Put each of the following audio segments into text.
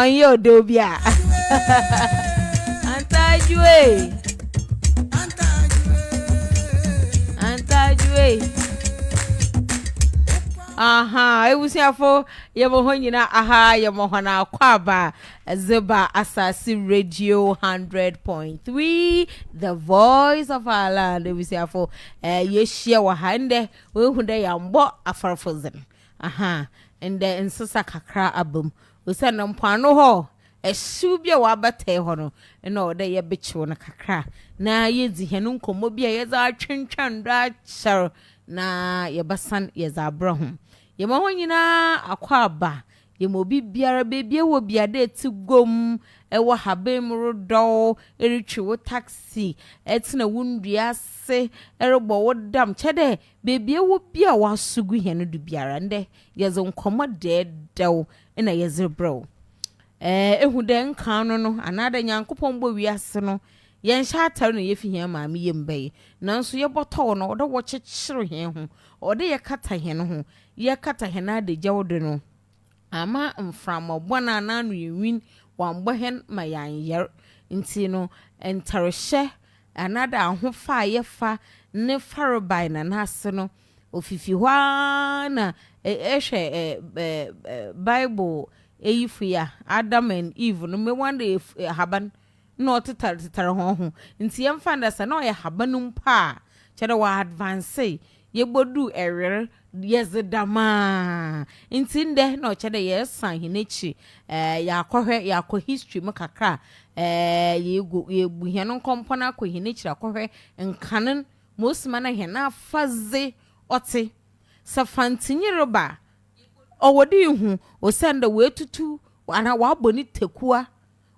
ɔnyɛ ɔdɔ bi a antajue antajue aha ebusuafo yɛ mo hɔ nyinaa aha yɛ mo hɔ na akɔ aba Ɛdze ba Asase Radio Hundred Point Three, The Voice of Our Land, ebusuafo, eh, yehyia wɔ ha ndɛ. Woehu dɛ yɛambɔ afarfodzen, aha, ndɛ nsesa kakra aba mu, osiandɛ mpoano hɔ, hyew bi a ɔabatae hɔ no, nna ɔwɔ dɛ yɛbekyew no kakra na yedzi hɛn nkɔmbɔ bi a yɛdze atwentweɔn do akyɛr na yɛbɛsan yɛdze abrɛ hom. Yɛma hɔn nyina akwaaba. Yɛ ma obi biara baabi a ɛwɔ bia dɛ tse guam, wɔ haban mu rodɔw, rotwe wo taxi, tsena wo ndua ase robɔ wo dam, kyerɛ dɛ beebi a ewɔ bia a w'aso gu hɛn do biara ndɛ yɛdze nkɔmbɔ dɛɛdɛw na yɛdze rebrɛ wo. Ɛɛ, ehu dɛ nkan no no, anaadɛ Nyankopɔn bɔɔ wiase no, yɛnnhyɛ atar na yefi hɛn maame yamu bae. Naaso yɛbɔtɔw no, ɔwɔ dɛ wɔkyekyer hɛnho, ɔwɔ dɛ yɛkata hɛnho, yɛkata hɛn adagyaw do no, amma mframa bɔn a n'ano yɛ nwin wɔammbɔ hɛn ma yɛannyar. Ntsi no, ntarhyɛ anaadɛ ahofa a yɛfa ne farebae na n'ase no, ofifi hɔ ara na ehwɛ Bible eyifo yi a, Adam and Eve no, mbewa na haban Nna ɔtetartetar hɔnho, ntsi yɛmfa no dɛ sɛ nna ɔyɛ haban mpo a, kyerɛ dɛ wɔadvansee, yeboduu ewer, yɛdze dɛm ara. Ntsi ndɛ nna ɔkyerɛ dɛ yɛresan hɛn ekyir yaakɔhwɛ, yaakɔ history mu kakra, yeegu yeebu hɛn nkɔmpɔn akɔ hɛn ekyir akɔhwɛ nkan n' ma osi ma nna hɛn afadze ɔtse. Sɛ Fantsinyi reba a, ɔwɔ dɛ ihu osiandɛ oetutu anaa ɔabɔ ne tekua.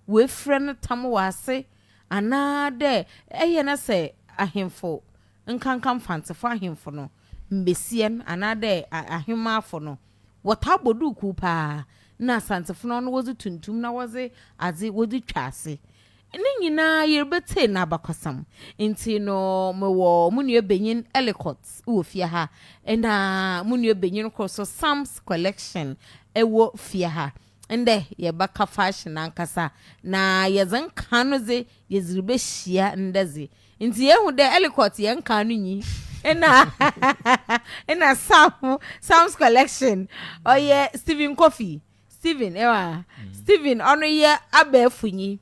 woefura no tam wɔ ase, anaa dɛ eyɛ na sɛ ahemfo, nkanka Mfantsefo ahemfo no, mbasia no, anaa dɛ ahemafo no, wɔtaa bɔ duukuu paa, nna Asantsefo no ɔno wɔdze tuntum na wɔdze adze wɔdze twa ase. Ne nyina yeribɛtsie n'abakɔsɛm. Ntsi no mowɔ mo nuabanyin Ellicott wɔ fie ha, nna mo nuabanyin kor so Sam's Collection wɔ fie ha. Ndɛ yɛbɛka fashion ankasa na yɛdze nkaa no dze yɛdze ribehyia ndɛ dze. Ntsi yehu dɛ Ellicott yɛ nkaa no nyi na nna Sam Sam's Collection ɔyɛ Stephen Kofi Stephen ewa Stephen ɔno yɛ abɛɛfo nyi.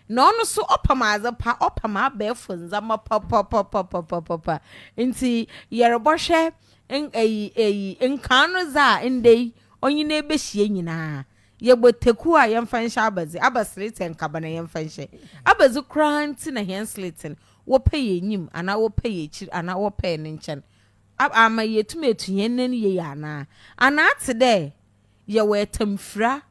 Na ɔno so ɔpam adze pa, ɔpam abɛɛfo ndzɛmba papapapapapapa. Ntsi yɛrobɔhwɛ nn eyi eyi nkan no dza ndɛ yi ɔnye no ebehyia nyina. Yɛbɔ taku a yɛmfa nhyɛ abɛdze, aba sliten kaban a yɛmfa nhyɛ abɛdze koraa ntsi na hɛn sliten wɔpɛ yɛ enyim anaa wɔpɛ yɛ ekyir anaa wɔpɛ yɛ ne nkyɛn a aama yeetum etu hɛn nan yie anaa? Anaa atse dɛ yɛwɔ atamfira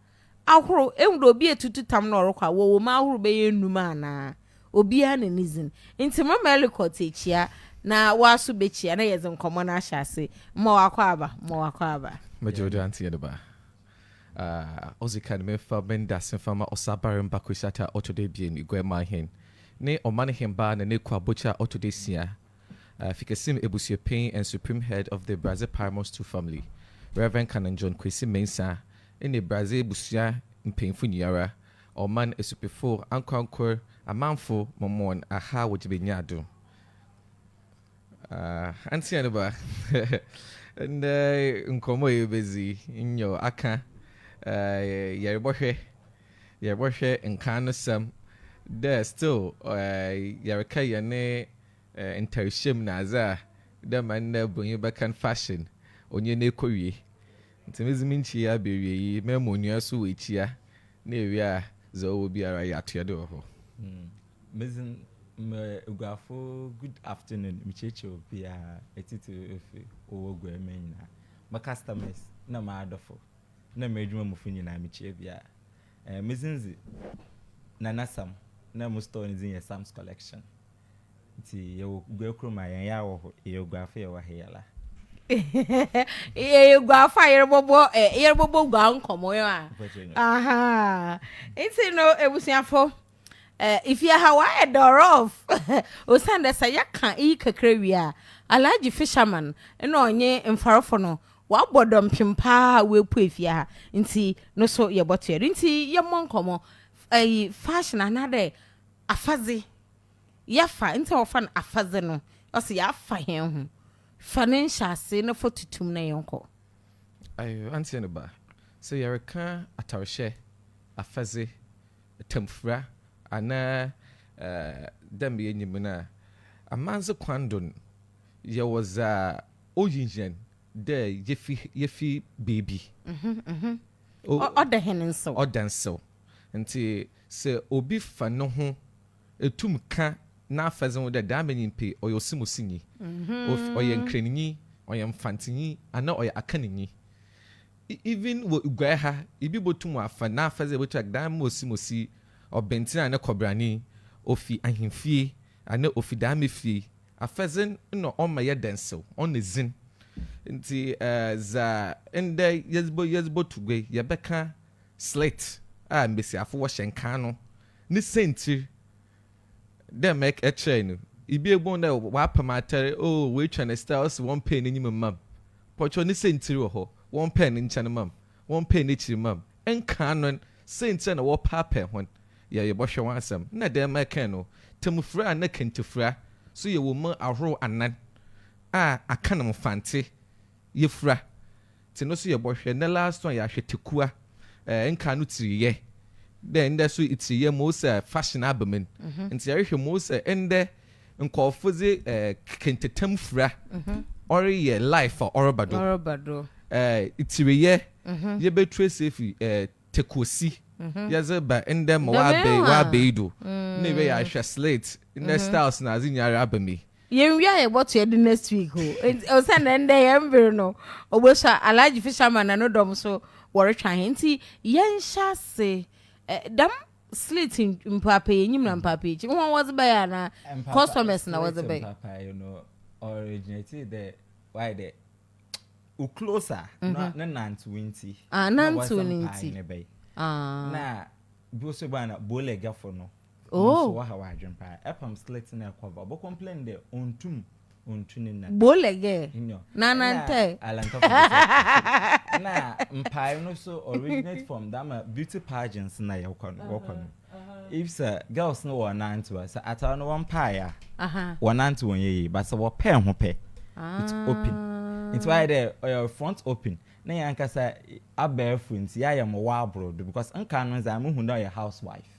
ahorow, ehu dɛ obi etutu tam na ɔrokɔ a, wɔwɔ mu ahorow bɛyɛ enum anaa? Obiara na ne dzin. Ntsi mma Ellicott ekyia na woaso bekyia na yɛdze nkɔmbɔ no ahyɛ ase. Mma ɔakɔ aba, mma ɔakɔ aba. Medze odwo antseyɛ no ba. Ah, odzi kan, memfa me ndase mfa mma Ɔsabarmba Kwesi Attah a ɔtɔ do ebien, Guaman hen, ne Ɔman hembaa na n'ekuw abɔkyi a ɔtɔ do esia, Fikesim Abusuapɛn and Supreme Head of the Brazze Paramount Stool Family, Rev. Canon John Kwesi Mensah, ne Brazze abusua mpanyimfo nyiara, ɔman asupifo, ankorankor amamfo, Mormon aha wɔ Gyebenyaa do. Ah, Antsea ne ba, ndɛ nkɔmbɔ a yebedzi yi, nyew, akã, ah, yɛrobɔhwɛ yɛbɔhwɛ nkan no sɛm dɛ still yɛrekɛ yɛne ntarhyɛm na adze a dɛ ma ndɛ bronyi bɛkɛ no fashion ɔnye no ekowie. Ntsi medze me nkyii aba ewiei yi mɛ ma onua so oekyia na ewie a dza ɔwɔ biara yɛatoa do wɔ hɔ. Medze me Eguafo good afternoon mekyiakyia obiara etsitsir efi ɔwɔ Eguaman nyina, mo customers na m'adɔfo. na m'edwuma mufo nyina mikyia biara. Eh, me dzin dze Nana Sam na mo store ne dzin yɛ Sam's Collection. Ntsi yɛwɔ Gua kurom a hɛn yar wɔ hɔ, yɛyɛ Guafo yɛwɔ ha yala. Yɛyɛ Guafo a yɛrobɔbɔ eh, yɛrobɔbɔ gua nkɔmbɔ, aha. Ntsi no ebusuafo, Eh, if yɛ ha w'ayɛ dɔrɔɔf osiandɛ sɛ yɛka iyi kakra wie a, Alhaji Fisherman na ɔnye mfarfo no wɔabɔ dɔmpem paa a woepue fie ha ntsi no so yɛbɔtoa do. Ntsi yɛmbɔ nkɔmbɔ eh, fashion anaadɛ afadze yɛfa, ntsi a wɔfa no afadze no, ɔsɛ yɛafa hɛnho. Fa ne nhyɛase na fa tutu mu na yɛnkɔ. Ayew, antsɛ ne ba, sɛ yɛrekã atarhyɛ, afadze, tamfura anaa dɛ mbrɛ yenyim no a, amandze kwan do no, yɛwɔ dza oyi hɛn dɛ yefi yefi beebi. Ɔda hɛn nsew. Ɔda nsew. Ntsi sɛ obi fa noho tum kã n'afɛdze ho dɛ dɛm ara nyimpa yi ɔyɛ ɔsemusinyi, ɔyɛ nkranyi, ɔyɛ mfantsenyi anaa ɔyɛ akananyi Even wɔ Guae ha, ibi botum afa n'afadze a obotu agdan ma osi ma osi ɔbentsen a ne kɔbrane, ofi ahemfie, ana ofi daame fie. Afadze nna ɔmma yɛ dɛnsew, ɔnna dzin. Ntsi dza ndɛ yɛdze botu guae, yɛbɛkã slit a mbasiafo wɔhyɛ nkaa no ne siantsir. Dɛ ma ɛkyerɛe no, ibi ebɔn dɛ wɔapam atar, oh, woetwa ne style ɔse wɔmpɛɛ n'enyim mma me. Pɔtwɔ ne siantsir wɔ hɔ, wɔmpɛɛ ne nkyɛn mma me, wɔmpɛɛ n'ekyir mma me. Nkaa no n, siantsir a na wɔrepaapaa hɔn yɛ yɛbɔhwɛ ho asɛm. Nna dɛm ma ɛkãe no, tamufura anaa kentafura so yɛ wɔ mu ahorow anan a akã no mfantse. Yefura te no so yɛ bɔhwɛ ndɛ last one yɛ ahwɛtekua eh nka no tiri yɛ dɛ ndɛ so itiri yɛ mo sɛ fashion aba min nti yɛrehwɛ mo sɛ ndɛ nkɔɔfo dze eh kente tam fura ɔre yɛ life a ɔreba do eh itiri yɛ yɛ bɛ ture se fi eh tekosi yɛ dze ba ndɛ ma w'abɛ w'abɛ yi do ne wɛ yɛ ahwɛ slate ndɛ styles na adze nyinaa raba mi. Yɛn wie a yɛ bɔ to yɛ de next week o osiane dɛ ndɛ yɛn mber no obosua Alhaji Fisherman na no dɔm so wɔre twa hɛn ntsi yɛn hyɛ ase dɛm slit mpaapaa enyim na mpaapaa ekyir hɔn wɔdze bɛyɛ anaa customers na wɔdze bɛyɛ. Slit mpaapaa yi no ɔregyenetee dɛ wayɛ dɛ wo close a na mhm. ne nantew ntsi ah, na wɔdze mpae ne bɛyɛ ah. na bi so baa na boiler gyafo no Oh. Nso waha w'adwen paa. Ɛpam slit na ɛkɔva. Ɔbɔ complain dɛ ontum ontu ne nan. Bolege. Nyo. Na nantɛ. Alantɔfo bi sɛ. Na mpae no so originate from dama beauty pageants na yɛkɔ no wɔkɔ no. If sɛ girls no wɔ nantew a sɛ atar no wɔmpae a. Aha. Wɔnantew wɔn yɛ yie but sɛ wɔpɛ ɛho pɛ. Ah. It open. Nti wayɛ dɛ ɔyɛ front open. Na yɛn ankasa abɛɛfo nti yɛayɛ mo wɔ abrodo because nka no dze a muhu dɛ ɔyɛ housewife.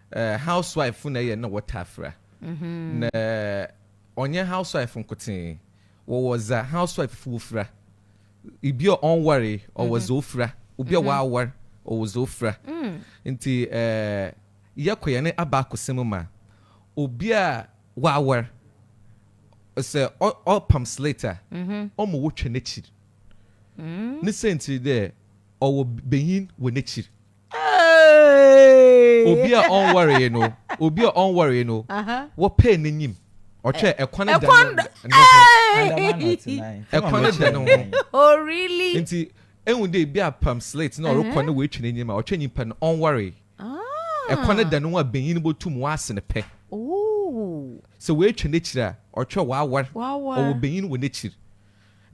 Eh housewife fo na ɛyɛ na wɔtaa fira. Na ɔnyɛ housewife fo nkotee. Wɔwɔ dza housewife fo wofira. Ibi a ɔnnwaree, ɔwɔ dza ofira. Obi a ɔawar, ɔwɔ dza ofira. Ntsi eh yɛkɔ hɛn abaakosɛm mu a, obi a ɔawar, sɛ ɔ ɔrepam slate a, ɔma wotwa n'ekyir. Ne siantsir nye dɛ, ɔwɔ banyin wɔ n'ekyir. Obi a ɔnwaree no, obi a ɔnwaree no, wɔpɛɛ n'enyim, ɔtwɛɛ ɛkwan da no ho, ɛkwan da no ho. Oh really? Nti ehu dɛ ebi apam slate na ɔrokɔ na oetwa n'enyim a, ɔtwɛɛ nyimpa no, ɔnwaree. Ɛkwan da no ho a banyin no botum ɔase no pɛ. Sɛ oetwa n'ekyir a, ɔtwɛɛ ɔawar, ɔwɔ banyin wɔ n'ekyir.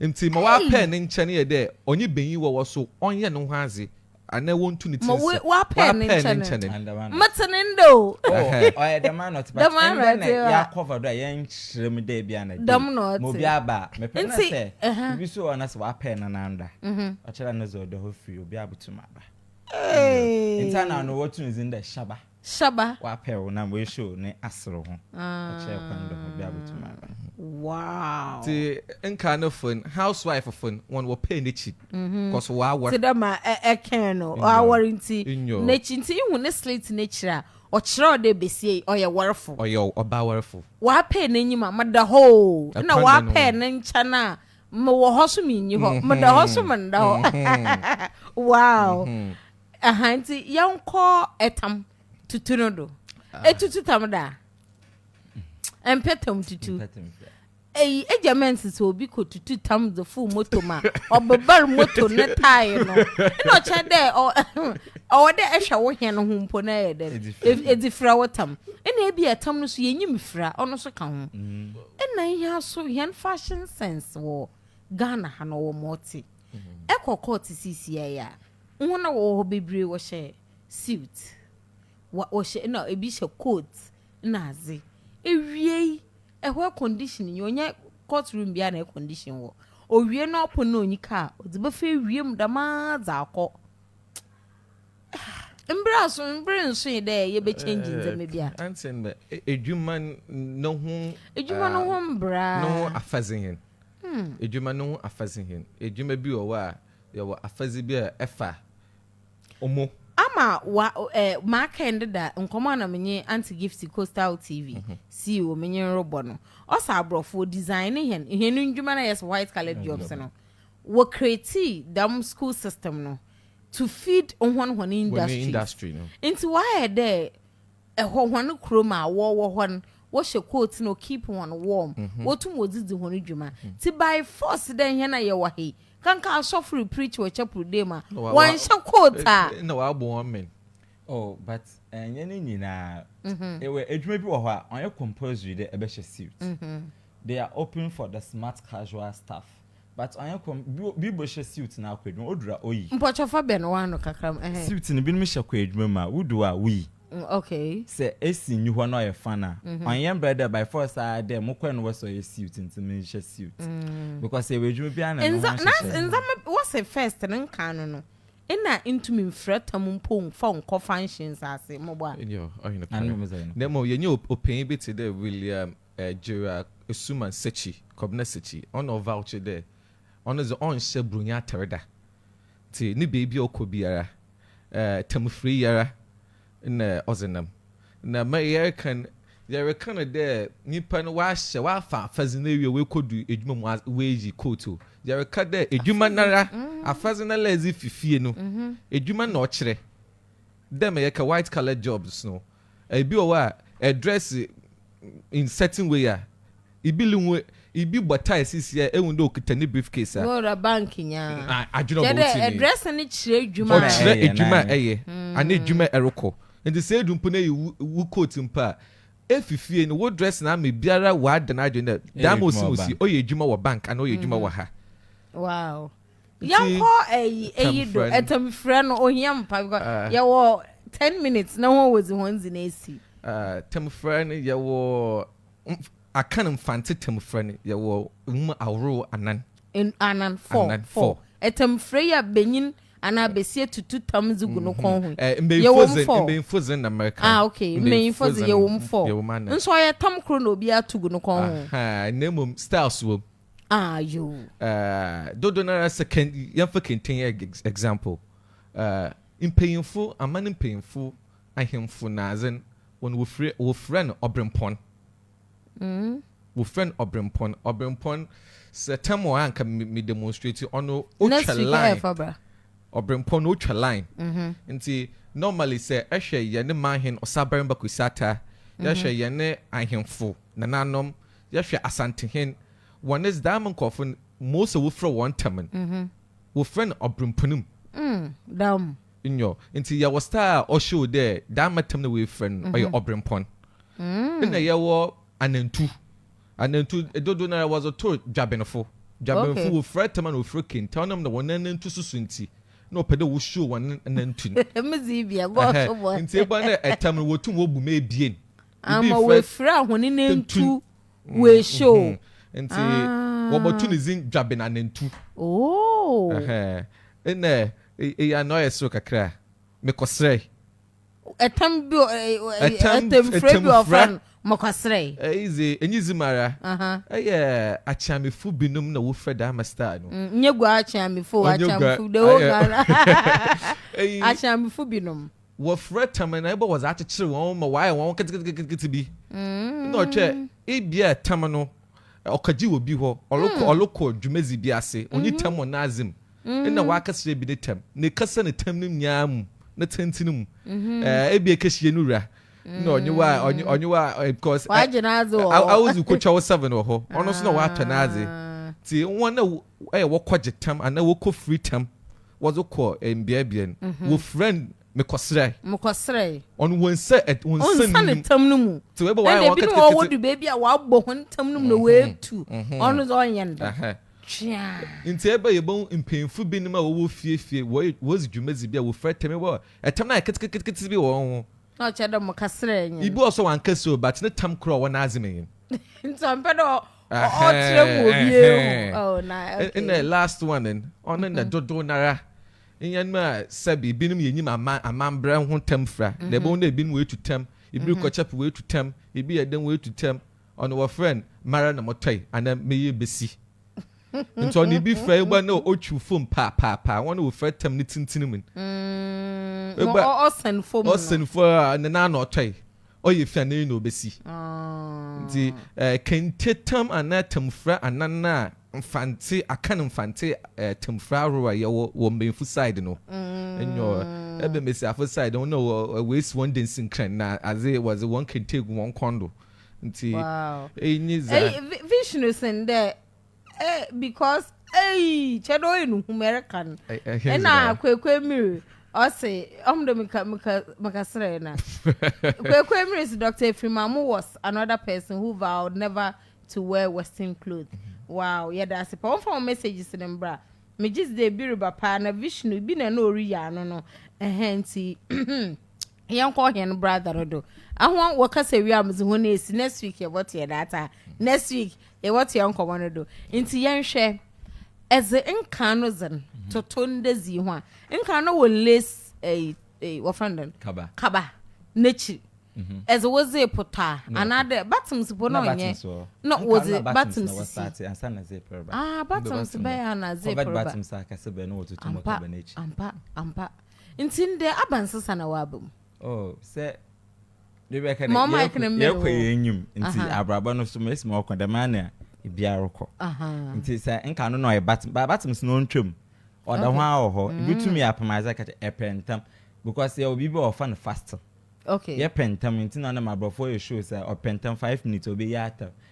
Nti ma ɔapɛɛ ne nkyɛn yɛ dɛ ɔnye banyin wɔwɔ so, ɔnyɛ no ho adze. Anaa wontu ne tiri so. Wapɛɛ ne nkyɛne. Mete ne nda o. Oh, ɔyɛ dɛm ara na ɔte. But ɛndɛ na yɛakɔva do a yɛnkyerɛ mu dɛ bi a na day. Dɛm na ɔte. Ma obi aba a, mepɛ na sɛ biribi so wɔ hɔ na sɛ wapɛɛ no na nda. Ɔkyerɛ no dze ɔdɔ hɔ firi obi abotum aba. Nti ana ɔno wotu ne dzin dɛ Shaba. Shaba. W'apɛ wo nam w'e show ne asere ho ɛkyerɛ kwan dɔ ho bia bɛtum aba. Wow. Ti nka no fon house wife fon wɔn wɔ pay n'akyi cos w'awɔre. Ti dɛ ma ɛ ɛ kɛn no w'awɔre nti n'akyi nti ihu ne slit n'akyiri a ɔkyerɛw dɛ besia yi ɔyɛ wɔrefo. Ɔyɛ ɔba awɔrefo. W'apɛ n'anyim a meda hɔ o ɛna w'apɛ ne nkyɛn a me wɔ hɔ so me nyi hɔ meda hɔ so me nda hɔ wow. Aha nti yɛnkɔ ɛtam tutu no do. Ah. Etutu tam da. Ɛmpɛ tam tutu. Eyi egya mɛ nsesɛ obi kɔ tutu tam dze full moto ma ɔbebar moto ne tae no. Ɛna ɔkyɛ dɛ ɔwɔ dɛ ɛhwɛ wo hɛn ho mpo na ɛyɛ dɛ edzi fira wo tam. Ɛna ebi ɛtam no so yɛnyim fira ɔno so ka ho. Ɛna mm. yɛn so yɛn fashion sense wɔ Ghana ha no wɔ mɔte. Ɛkɔ mm-hmm. kɔɔte sisi ɛyɛ a. Wohu na wɔwɔ hɔ bebree wɔhyɛ suit wa wɔhyɛ na ebi hyɛ coat na adze. Ewiei ɛhɔ air condition nye hɔ ɔnnyɛ court room biara na air condition wɔ. Owie no apon na onyi kaa ɔdze bɛfa ewie mu dɛm ara dze akɔ. Ahh mber aso mber nnsoe dɛ yɛbɛ change ndzɛmba bi a. Ansen dɛ edwuma no ho Edwuma no ho mbra. no ho afadze hen. Edwuma no ho afadze hen. Edwuma bi wɔ hɔ a. Yɛwɔ afadzi bi a ɛfa omo. Ama wa ɛ maakɛn deda nkɔmbɔ a nna menye Aunty Gifty, Coastal TV, sii wɔ menye no robɔ no. Ɔsɛ aborɔfo, wodesignee hɛn, hɛn ndwuma no a yɛse white coloured jobs no, wɔcreatee dɛm school system no to feed hɔn hɔn industries. Ntsi wɔayɛ dɛ. Ɛhɔ hɔn kurom a wɔwɔ hɔ no wɔhyɛ coat na ɔkeep hɔn warm, wɔtum wɔdze dzi hɔn dwuma. Ntsi by force dɛ hɛn a yɛwɔ ha yi, kanka asɔfo repreach wɔ chapel dee mu a, wɔnnhyɛ coat a. Nna wɔabɔ hɔn men. Oh, but nnyɛ ne nyina. Ewɔ edwuma bi wɔ hɔ a, ɔnnyɛ compulsory dɛ ebɛhyɛ suit. They are open for the smart casual staff. But ɔnyɛ kɔm bi bɔ hyɛ suit na akɔ adwuma odura oyi. Mpɔkyɛ fa bɛn w'ano kakra mu ɛhɛn. Suit no binom hyɛ kɔ adwuma mu a wodu hɔ a woyi. Okay. Sɛ AC nni hɔ na ɔyɛ fan a ɔnyɛ mbrɛ dɛ by force ara dɛ mo kɔ na wɔ sɛ ɔyɛ suit ntsi menhyɛ suit because yɛwɔ adwuma biara na no ho ahyehyɛde. Nza ndzɛmba wɔ sɛ first no nkaa no no nna ntumi mfira tam mpo mfa nkɔ functions ase mboa. Nyew ɔhwɛ nokwar. Na mbom yɛnyɛ opanyin bi tse dɛ William Gyera Asuman Sekyi, Kobna Sekyi, ɔna ɔvawkye dɛ ɔno dze ɔnnhyɛ Buronyi atar da, ntsi no beebi a ɔkɔ biara tamufree yi ara na ɔdze nam. Na ma yɛreka no, yɛreka no dɛ nyimpa no ɔahyɛ, ɔafa afadze no ewie, oekodu edwuma mu, oeyi coat o, yɛreka dɛ edwuma noara, afadze noara a edze fi fie no, edwuma na ɔkyerɛ. Dɛ ma yɛka white collar jobs no, Ibi wɔ hɔ a ɛdrɛse in certain way a, ibi li ho, ibi bɔ tie sisi a ehu dɛ okitsa ne briefcase a. Ɔwura bank nyaa. Adwen a ɔbɔ wo tsir nye yi. Kyerɛ dɛ ɛdrɛse no kyerɛ edwuma a ɛyɛ. Ɔkyerɛ edwuma a ɛyɛ anaa edwuma a ɛrokɔ. Ntsi sɛ edu mpo na eyi wo coat mpo a, efi fie no wo dress no ama biara ɔada n'adwen dɛ dɛm a ɔsi ho si ɔyɛ edwuma wɔ bank anaa ɔyɛ edwuma wɔ ha. Wow. yɛnkɔ ɛyi ɛyi do ɛtam frɛ no ohia mu pa because ah. yɛwɔ ten minutes na wɔn wɔdzi wɔn dzi na esi. Ah, tam frɛ no yɛwɔ akan mfante tam frɛ no yɛwɔ nwuma ahorow anan. anan four four ɛtam frɛ yi a benyin anaa besia tutu tam dzi gu no mhm. kɔn ho eh, yɛwɔ mu four mbɛnfo dze na mɛka ah okay mbɛnfo dze yɛwɔ mu four nso ɔyɛ tam koro na obi ato gu no kɔn ho. na mmom styles wɔ mu. Ah, yo. Uh, dodo nara sɛ kɛn yɛmfa kɛntɛn yɛ example. Uh, mpanyinfo aman mpanyinfo ahemfo na adze no wɔn wɔfrɛ wɔfrɛ no ɔbrempɔn. Mm. wɔfrɛ no ɔbrempɔn ɔbrempɔn sɛ tɛm wɔ anka me demonstrate ɔno otwa line ɔbrempɔn no otwa line mm-hmm. nti normally sɛ ɛhwɛ yɛne mahen ɔsabarima kwesata yɛhwɛ mm-hmm. yɛne ahemfo nananom Yɛhwɛ Asantehe'n, wɔ ne Zdaam nkorɔfo no, Mose wofrɛ wɔn ntɛm no, wofrɛ no Ɔbremponom. Daam. Nyew, ntsi yɛwɔ star a ɔshow dɛ Daam ntɛm na woefrɛ no no, ɔyɛ Ɔbrempɔn. Nna yɛwɔ Anantu. Anantu, dodow no ara wɔdze to Dwabenfo. Dwabenfo, wofira tam ana wofira kente, ɔnam dɛ hɔn anantu soso ntsi, nna wɔpɛ dɛ woshow hɔn anantu no. Ntsi ebɛn dɛ tam no wotum wobu mu ebien. Ama oefir a hɔn nentu oehyɛ o. Ntsi wɔbɔto ne dzin Dwabenanantu. Oh. Nna eyɛ na ɔyɛ serew kakra a, mekɔserɛe. Tam bi wɔ hɔ, tamfura bi wɔ hɔ wɔfrɛ no mokɔserɛe. Iyi dze, enye dzi mu ara. Eyɛ Akyeamefo binom na wofrɛ dɛm ama style no. Nnyɛ Guaa Akyeamefo o, Akyeamefo, the whole Ghana. Akyeamefo binom. Wɔfrɛ tam na ebɔ wɔdze akyekyer hɔn ma wɔayɛ hɔn ketseketseketse bi. Nna ɔkyerɛ ibia tam no ɔkɛgye wɔ bi hɔ, ɔrokɔ ɔrokɔ dwumadzi bi ase, onnyi tam wɔ n'adze mu, nna ɔakɛserɛ bi ne tam, na ekɛsa no tam no nyinaa mu, ne tsentsen mu. Ɛɛ ebia ekɛhyia no wura na ɔnye wo a ɔnye ɔnye wo a because ɛ, aodzi kotwa wo seven wɔ hɔ, ɔno so na ɔatɔ n'adze. Ntsi hɔn a Ɔyɛ wɔkɔgye tam anaa wɔkɔfiri tam wɔdze kɔ mbeabea no, wɔfira no mekɔsrɛe. Mekɔsrɛe. Ɔno wɔnsa wɔnsa ne tam no mu. Tse wɔyɛ bɛ wɔayɛ wɔn ketekete. Ɛna ebinom wɔ wɔdu beebi a wɔabɔ hɔn tam no mu na wɔatu. Ɔno dze ɔnnyɛ no dɛm. Tweaa. Ntsi ebɛn yɛbohu mpanyimfo binom a wɔwɔ fie fie wɔyɛ wɔdzi dwumadzi bi a wɔfira tam bi a tam no ayɛ ketekete bi wɔ hɔnho. Na ɔkyerɛ dɛ mokɛsrɛɛ nye no. Ibi wɔ hɔ so a ɔannkɛsrɛ o but ne tam koraa ɔwɔ n'adze mu nye no. Ntsi ɔmmpɛ dɛ ɔkyerɛ mu obi ehu na okay ɛna last one no ɔno na mm-hmm. dodow nara nyɛ no a sɛbi ebinom yɛ nyim aman amambrɛ ho tam fira na ɛbɛn mm-hmm. na ebinom wɔ etu tam ebi mm-hmm. kɔ kyɛp wɔ etu tam ebi yɛ dɛm wɔ etu tam ɔno wɔ frɛ no mara na mɔtɔe ana meyɛ besi nti ɔno ebi fɛ egba na otwiw fom paapaapaa wɔn na ofɛ tam ne tenten mu. Mm, ɔsɛn fom no ɔsɛn fom a ne nan na ɔtɔe. Ɔyɛ fi a n'ani na obesi. Nti kente tam anaa tamfura anan a Mfantse, Akan Mfantse tamfura ahorow a yɛwɔ wɔ mbanyinfo side no nyɔ bɛ mbasiafo side no nna woesi hɔn dansinkran na adze wɔdze hɔn kente egu hɔn kɔn do. Ntsi iyi nye dza. Vision sen dɛ Eh because eii kyɛ dɛ ɔyɛ no hum ɛreka no ɛna kwekwe miri ɔse ɔmo de meka meka meka serɛ na kwekwe miri se Dr. Efrimamu was another person who vowed never to wear western clothes wow yɛda ase paa ɔmfa wɔn messages no mbra megye dzi dɛ ebi reba paa na Vishnu bi na na ɔreyi ano no ɛhɛn nti yɛnkɔ hɛn brother no do ahɔn wɔkasa wie a medze hɔn esi next week yɛbɔtoa data next week yɛbɔtoa nkɔmmɔ no do nti yɛnhwɛ ɛdze nkan no dze no toto ndɛ dzi ho a nkan no wɔ nles ɛyi ɛyi wɔfrɛ no dɛn kaba kaba n'ekyir ɛdze mhm. wɔdze potɔ a anaadɛ buttons po na ɔnyɛ na wɔdze buttons sisi ah buttons bɛyɛ ana zip reba ampa ampa ampa. Ntsi ndɛ aban sesa na wɔaba mu. Oh sɛ de bɛka dɛ yɛkɔ yɛn enyim nti abrabɔ no so mesi ma ɔkɔ dɛm ara na bia rokɔ nti sɛ nka no na ɔyɛ batem ba batem so na ɔntwam ɔda ho ara wɔ hɔ ebi tum yɛ apem adze ka kyɛ ɛpɛ ntam because yɛwɔ biribi a wɔfa no fasting okay yɛpɛ ntam nti na ɔnam aborɔfo yɛ show sɛ ɔpɛ ntam five minutes ɔbɛyi atam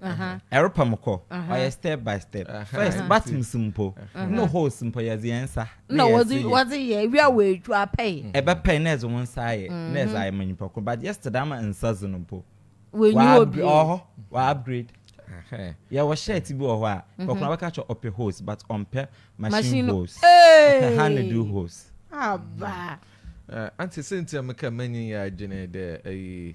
ɛrepa mu kɔ ɔyɛ step by step first battems mpo no holes mpo yɛdze yɛn nsa na wɔdze wɔdze yɛ ewia wɔ edwa apɛe ɛbɛpɛe na ɛdze wɔn nsa ayɛ na ɛdze ayɛ ma nyimpa kor but just dɛm ama nsa dze no mpo wɔnyi hɔ bio ɔwɔ hɔ wɔ upgrade yɛwɔ shirt bi wɔ hɔ a kɔkora bɛka kyɛ ɔpɛ holes but ɔmpɛ machine holes ɔpɛ hand do holes aba ante sɛ nti a meka manyin yɛ adwene dɛ ayi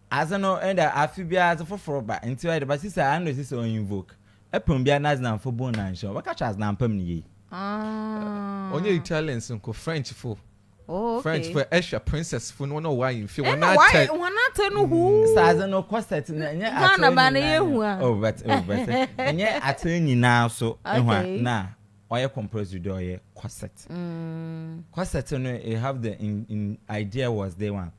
Adze no ndɛ afe biara adze fofor ba ntsi ɔyɛ dɛ ba sisi a ano sisi ɔyɛ invoke pon biara na adzenamfo bun na nhyɛ wɔbɛka kyerɛ adzenampa mu no yie. Ɔnnyɛ Italians nko, Frenchfo, Frenchfo ɛhwɛ princessfo no wɔn a wɔwɔ ahenfie wɔn atɛ. Ɛna wɔn atɛ no huu. Sɛ adze no corset no ɛnyɛ atɛ nyinaa. Ghana ba no yɛ hu a. Oh but oh but ɛnyɛ atɛ nyinaa so ehu a na ɔyɛ compulsory dɛ ɔyɛ corset. Corset no you have the in in idea was day one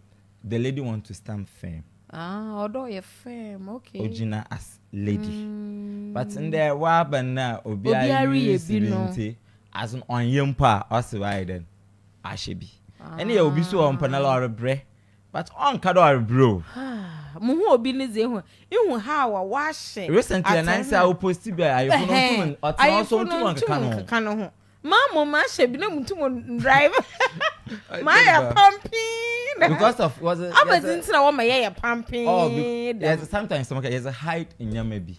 The lady want to stand firm. Ah, ɔdɔ yɛ firm, okay. Ogyina as lady. Mm. But ndɛ waba no a obi ayɛ use bi nti, as no ɔnyɛ mpo a ɔse wayɛ dɛn? Ahyɛ bi. Ah. Ɛne yɛ obi so wɔ mpo na ɔrebrɛ. But ɔnka dɛ ɔrebrɛ o. Mo hu obi ne dze ehu ihu ha wa wahyɛ. Recently na nsa wo post bi a ayefo no ntum ɔtena ɔso ntum nkeka no ho. Maa mo maa hyɛ bi na mo nti mo drive. Maa yɛ pampin. Because of was it? Aba di ntina wɔn ma yɛ yɛ pampin. Oh, yes. Sometimes some yes hide nyama bi.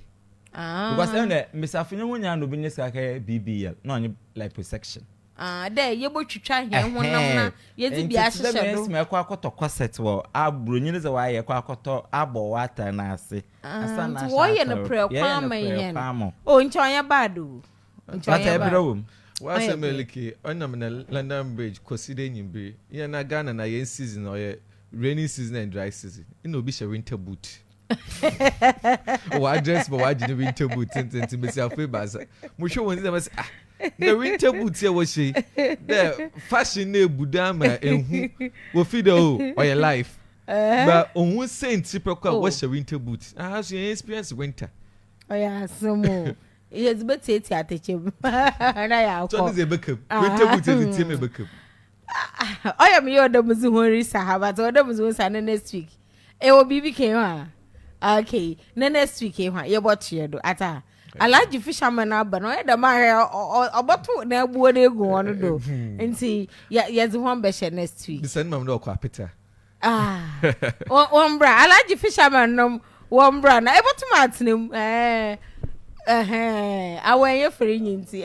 Ah. Because then the misafo nyo nya no bi ne sika kɛ BBL na ɔnye liposuction. Ah, dɛ yɛbɔ twitwa hɛn ho nam na yɛdze bi ahyehyɛ do. Nti dɛ mɛsima ɛkɔ akɔtɔ corset wɔ aburo nyini sɛ wɔayɛ ɛkɔ akɔtɔ abɔ wɔ atare n'ase. Ah, nti wɔyɛ no prɛ kwan ma yɛn. Oh, nti ɔnyɛ bad o. Nti But ɔyɛ ɛbrɛ ba. wom. Ɔyɛ W'asɛm bere. ɛlike ɔnam nnɛ London Bridge kɔsi dɛ nyimbere. Yɛn na Ghana na yɛn season no ɔyɛ rainy season and dry season. Nna obi hyɛ winter boot. Ɔadress ma ɔagye ne winter boot tsentsenntsen mbasiafo ebiasa. Mohwɛ hɔn dze a mɛse ah na winter boot yi a wɔhyɛ yi dɛ fashion no ebu do ama ehu. Wofi dɛ oh ɔyɛ life. Ba ohun siantsir pɛkõ a Oh. wɔhyɛ winter boot. Aha so yɛnn experience winter. Ɔyɛ asɛm o. Yɛdze bɛtsiatsia atɛkyɛ mu na yɛakɔ. Tɔ ne dze ebɛka mu. Kwanta mu dze yɛdze tsia mu ebɛka mu. Ɔyɛ me yaw dɛ medze hɔn risa ha but ɔwɔ dɛ medze hɔn sa ne next week. Ewɔ biribi kɛn ho a? Okay, ne next week yi ho a yɛbɔtoa do. Atse a? Alhaji Fisherman aba no ɔyɛ dɛ mahwɛ ɔbɔtow n'abuo no egu hɔn do ntsi yɛdze hɔn bɛhyɛ next week. Bisa ne maame dɛ ɔkɔ apetse a? Ah, wɔn bra alaji fisherman nom wɔn bra na ebɛtum atena mu ɛɛ ɛhɛn awɔ ɛyɛ fere nyi nti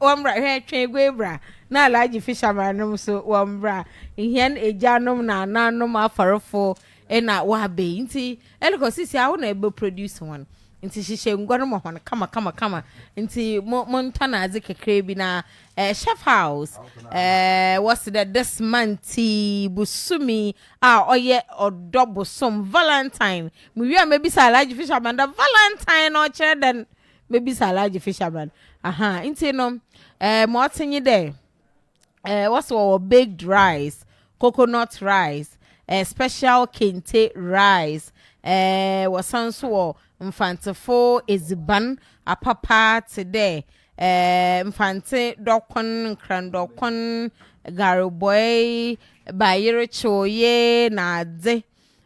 wɔn bra hwɛ twɛn egwe bra na alaji fisherman nom so wɔn bra nhɛn egya nom na anan nom afarefo ɛna wɔabɛ yi nti ɛlikɔ sisi awo na ɛbɛ produce wɔn nti hyehyɛ ngua no ma wɔn kama kama kama nti mo mo ntɔ na adze kakra bi na Eh, Schaffhaus, eh, wɔse dɛ this month yi, bosome a ɔyɛ ɔdɔ bosom, Valentine, muwie a mebisa Alhaji Fisherman dɛ Valentine no ɔkyerɛ dɛn? Mebisa Alhaji Fisherman, aha, nti no, eh, ma ɔtse nye dɛ, eh, wɔse wɔwɔ baked rice, coconut rice, eh, special kente rice, eh, wɔsan so wɔ Mfantsefo edziban apapa tse dɛ Mfantse dɔkon, nkrandɔkon, garboɛe, bayerekyew, yee na adze.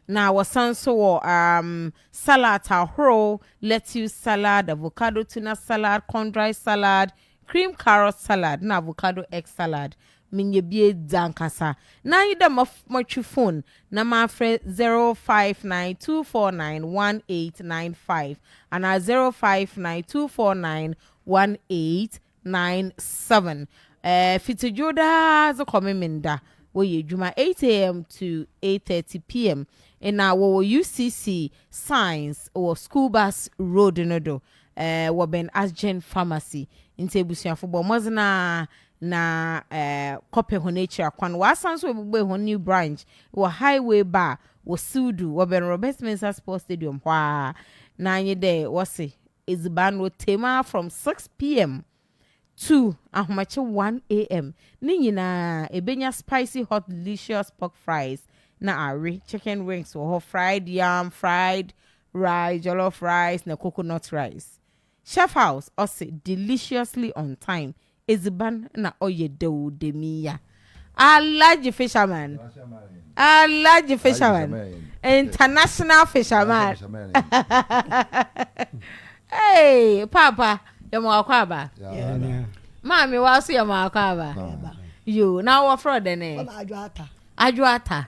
Na wɔsan so wɔ salad ahorow, lettuce salad, avocado tuna salad, corn dry salad, cream carrot salad na avocado egg salad. Mennyɛ bi dze ankasa. Nna nye dɛ motwe fon na maafrɛ zero five nine two four nine one eight nine five anaa zero five nine two four nine one eight nine seven. Fitsi dwow daa dze kɔ Memenda, wɔyɛ edwuma eight am to eight thirty pm. Nna wɔwɔ UCC Science wɔ School Bus Road no do wɔ bɛn Asgen Pharmacy. Ntsi ebusuafo bɔ mbɔdzen ara na kɔpɛ hɔn ekyir akwan. Wɔasan so ebobue hɔn new branch wɔ Highway Bar wɔ Siwdu, wɔbɛn Robert Mensah Sports Stadium hɔ ara, na nye dɛ wɔse edziban no otsie mu ara from six pm to ahomakye one am. Ne nyina, ebenya spicy hot delicious pork fries na awe, chicken wings wɔ hɔ, fried yam, fried rice, jollof rice na coconut rice. Chef House ɔse deliciously on time edziban na ɔyɛ dɛw dɛmi ya Alhaji fisherman Alhaji fisherman international fisherman Hey paapa yɛma wo akwaaba Maame wa so yɛma wo akwaaba Yoo na wɔ frɛ wo dɛn eh Adwoata Adwoata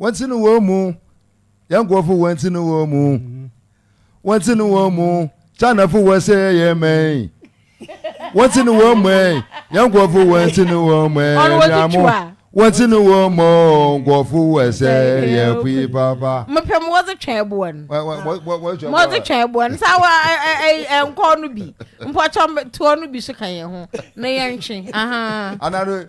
wɔn ti no wɔn mu yɛn nkurɔfo wɔn ti no wɔn mu wɔn ti no wɔn mu chanafo wɔn sɛ yɛn mɛn wɔn ti no wɔn mu yɛn nkurɔfo wɔn ti no wɔn mu ɛnamo wɔn ti no wɔn mu nkurɔfo wɔn sɛ yɛn pui papa. mo pɛ mo wɔdze twɛn ɛboɔ no mo wɔdze twɛn ɛboɔ no saa wɔ ɛ ɛ ɛ nkɔɔ no bi mpɔtɔ toɔ no bi so ka yɛn ho na yɛn ntwe. anadu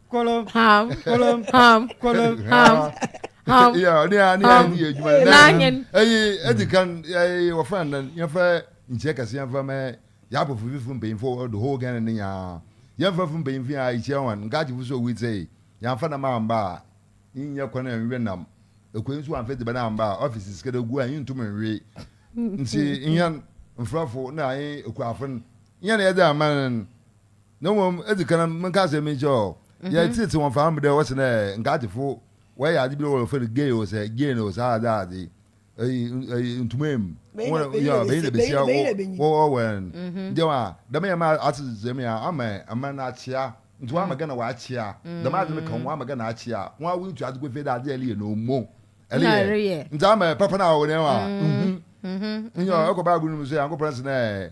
kolom ham kolom ham kolom ham ham ya ɔne a ne yɛ ne yɛ adwuma na n'anyen ɛyi ɛdi kan ɛyi wɔfɛ anan yɛfɛ nkyɛn kɛse yɛfɛ mɛ yabɔ fififo mpanyinfo ɔdo hɔ gɛn ne nyaa yɛfɛ fo mpanyinfo yɛ ayikyɛ wɔn nkaagye fo so owi sɛ yɛnfa nam amba a nyɛ kwan a nwɛ nam ekwan nso anfɛ dibɛ na amba a ɔfisi sikɛdɛ gu a ntum nwi nti nyɛn nfrafo na ayɛ ekuafo nyɛn yɛde aman Na mmom edzi kan no menka asɛm bi nkyerɛ wo, yɛtseetsee hɔn faa mu dɛ wɔse dɛ nka atsefo wɔyɛ adze bi dɛ wɔfrɛ no gay o sɛ gene o saa adze adze yi ntumee mu yɛ banyin na basia wɔwɔ wɛn nkyɛn a dɛm yɛ ma atsetsee me a ama aman no akyea ntsi wɔama Ghana wɔakyea dɛm adze no ka hɔn wɔama Ghana akyea hɔn a woetu adze kɔ fie dɛ adze a ereyɛ no omo ereyɛ ntsi ama papa no a ɔwɔ dɛm a nhu nyɛ ɔkɔ Bible no mu so Nyankopɔn se dɛ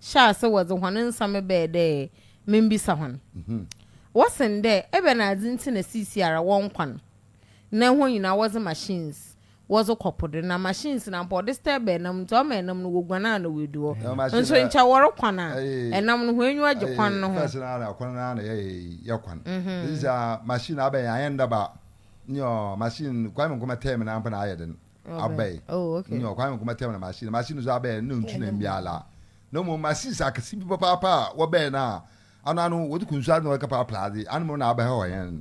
hyɛɛ ase wɔdze hɔn nsɛm bɛɛ dɛ mimbisa hɔn. Wɔseen dɛ, Ebɛnadze ntsi na siisiara wɔ nkwa no, ndɛ hɔn nyina wɔdze machines wɔdze kɔ po do, na machines no ampa ɔdze stir bɛn nam ntsi ɔma nam no woguan a na woedu hɔ. Nso nkyɛ wɔrɔ kwan a, nam no hɔn enyiwa gye kwan no ho. First no ara na kwan no ara na yɛyɛ kwan. Sesei a machine abɛn yɛn, annyɛ ndaba. Nyew, machine, Kwame Nkrumah term no ara mpo na ayɛ dzen. abɛe oh, okay. ne ɔkwan nko mɛtɛm na machine machine nso abɛe ne ntu na mbiala na mmom machines akɛse bi papaapa a wɔbɛe no a ano ano wɔde kunsu ade na wɔde kapa aplaade anum na abɛhɛ hɔ yɛn.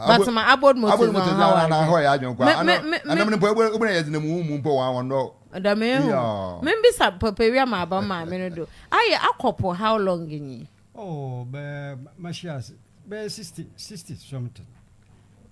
batoma abod motors na ɔha wa na hɔ yɛ adwene kwa ano ɛnam ne mpo ebo na yɛ de na mu mu mpo wɔn wɔn dɔ. dame ehu membisa papa wi ama aba maame no do ayɛ akɔpo how long nyi. oh bɛɛ mahyia bɛɛ sixty sixty something.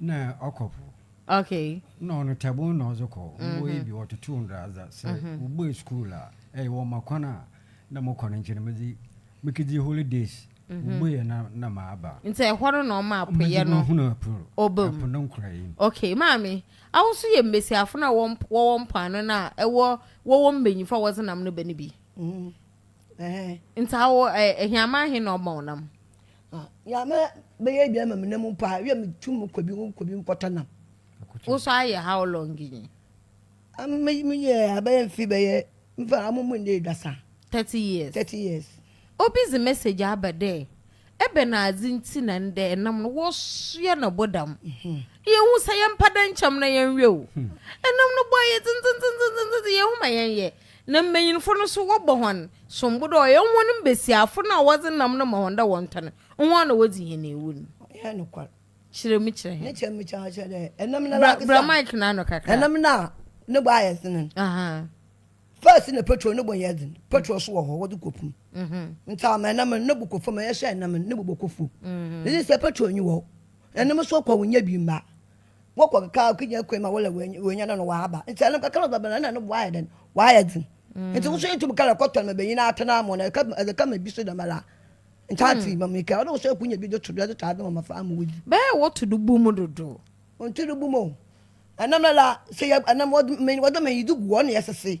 Nna ɔkɔ po. Okay. Nna ɔno tabon na ɔdze kɔ. Mbowa yi bi wɔtotow ndradza. Sɛ wobuei skuul a, ey wɔ ma kwan a nna mokɔ no nkyɛn medze mekedzi holidays. Wobuei a na nna maaba. Ntsi hɔ no na ɔmaa poyɛ no ɔbamu. Medze bohun po no, po no nkorae mu. Okay, maame, awo so yɛ mbasiafo no a wɔwɔ mpoano no a ewɔ wɔwɔ mbanyinfo a wɔdze nam no bɛ no bi? Ntsi awo, ehiaman hen na ɔma wo nam? Ah, ya me me ye bia ma me nam mpo a, wi me tu mu kɔ bi mu kɔ bi mu kɔtɔ nam. Wo so ayɛ how long ni? Me me ye abɛyɛ mfe bɛyɛ mfa amu mu ne dasa. 30 years. 30 years. Obi dze message aba dɛ ebɛnadze ntsi na ndɛ nam no wɔsoa no bɔ dam. Yehu sɛ yɛmpa dɛ nkyɛm na yɛnwɛ o. Nam no bɔ ayɛ dzendzendzendzendzendzen yehu ma yɛnyɛ. Na mbanyinfo no so wɔbɔ hɔn sombo dɛ ɔyɛ hɔn mbasiafo no a wɔdze nam no ma hɔn dɛ wɔntɔ no, hɔn na wodzi hɛn ewu no. Ɔyɛ nokwar. Kyerɛ mu kyerɛ hɛn. Nkyɛ mekã kyerɛ dɛ enam no lankasa. Bra mic no ano kakra. Enam no a no bo ayɛ dzen no, first na petrol no bo nnyɛ dzen, petrol so wɔ hɔ wɔdze kɔ pum, ntsi ama enam no no bo kɔ famu, ehyɛ enam no no bo bɔkɔ famu, ntsi sɛ petrol nnyi hɔ, enam so kɔ a wonnya bi mma. Wɔkɔ keka a ɔkenya kwan ma wɔla wɔanya no no wɔaba. Nti ɛno kakra ɔbɛba no ɛna ɛno boa ayɛ dɛn? Boa ayɛ den. Nti wo so yɛ tum kala kɔtɔ no ma benyin atena mo no ɛka ɛdze kama bi so dɛmara. Ntaatse ma meka ɔno wo so ɛkunya bi do to do ɛdze tɔ adze ma mmɔfra ama wodzi. Bɛyɛ wɔto do bu mu dodo. Wɔnto do bu mu o. Ɛnam lala sɛ yɛ ɛnam wɔdze wɔdze manyi dze gu hɔ na yɛsese.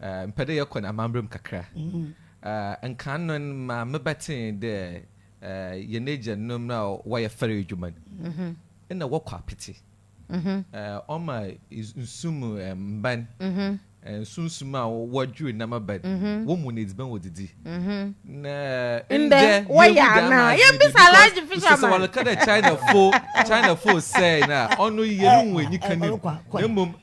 Eh, mepɛ dɛ yɛkɔ n'amambra mu kakra. Eh, nkan no ma mebɛtsee dɛ eh, hɛn egyanom a wɔyɛ fɛr edwuma no, nna wɔkɔ apetse. Eh, ɔma nsu mu mban, eh, nsunsum a wɔdwew nam aban, wɔmu no edziban wodzidzi. Na eh, ndɛ yehu dɛ ama adwen bi because mese sɛ wɔreka dɛ Chinafo, Chinafo sɛɛ no a, ɔno yɛrunnhu enyika no mu, na mbom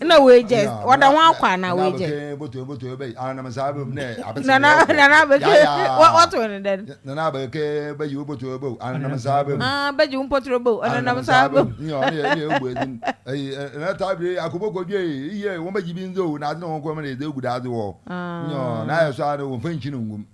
na wei jɛ ɔda ho akɔ anaa wei jɛ nana nana abeke wɔto ne dɛn nana abeke bɛgye wo potoro bɛw ananam saa bɛm bɛgye wo potoro bɛw ananam saa bɛm na taa bere akoboko dwe iye wɔn bɛgye bi nzo na ade na wɔn kɔm na ɛdɛ gu daade wɔ nyɔ na ayɛ so a wɔn fɛn kyi no ngum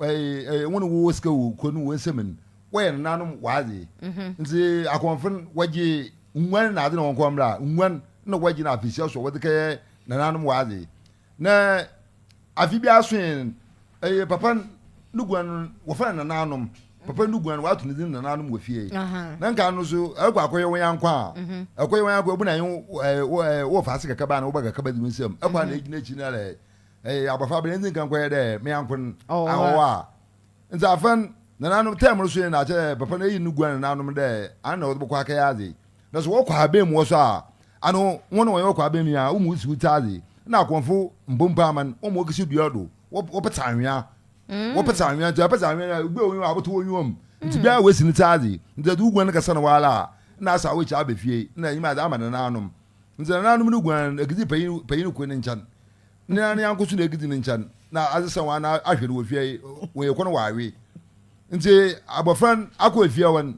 Ɛyɛ wɔn a wɔwɔ sika wɔ kuro no wɔn nsam no wɔyɛ nananom wɔadze mhm. nti akɔnfo no wɔgye nguan na adze na wɔn kɔn mmerɛ a nguan na wɔgye na afehyia so wɔdze kɛyɛ nananom wɔadze na afe bi aso yɛn ɛyɛ papa ne guan no wɔfrɛ no nananom papa ne guan no wɔato ne din nananom wɔ fie na nka no so ɛkɔ akɔyɛ wɔn yankɔ a mhm. ɛkɔyɛ wɔn yankɔ ebu na yɛn wɔ faase kakaba na wɔba kakaba di wɔn nsam ɛkɔ a na egyina akyi na lɛ Eye abofra bɛn nti nka nkɔyɛ dɛ me nyɛnko no awɔwa a? Ntsi afan nananom term no so nye no akyerɛ dɛ papa no eyi no gua nananom dɛ ano na wɔdze bɔkɔ akɛyɛ adze. Na sɛ wɔkɔ haban mu hɔ so a, ano hɔn na wɔnye wɔkɔ haban mu yi a, womuwusi wotsi adze. Nna akɔmfo mbɔ mpo ama no, wɔma okesi dua do, wɔpetse anwea, wɔpetse anwea, ntsi ɔpetse anwea no a, obi a onnyi hɔ a ɔbɔtow onyiwa mu. Ntsi bia a oesi no tse adze. Ntsi sɛ edze wo guan kɛsɛ no woara a, nna asaw ekyir aba fie, nna enyim adze ama nananom. Ntsi nananom no guan no, ekedzi panyin panyin kor ne nkyɛn. Ne nane anko so na egidi ne nkyɛn na adze sɛ wɔn ahwɛ no wɔ fie yi wɔn yɛ kɔn wɔawe nti abɔfra no akɔ efie wɔn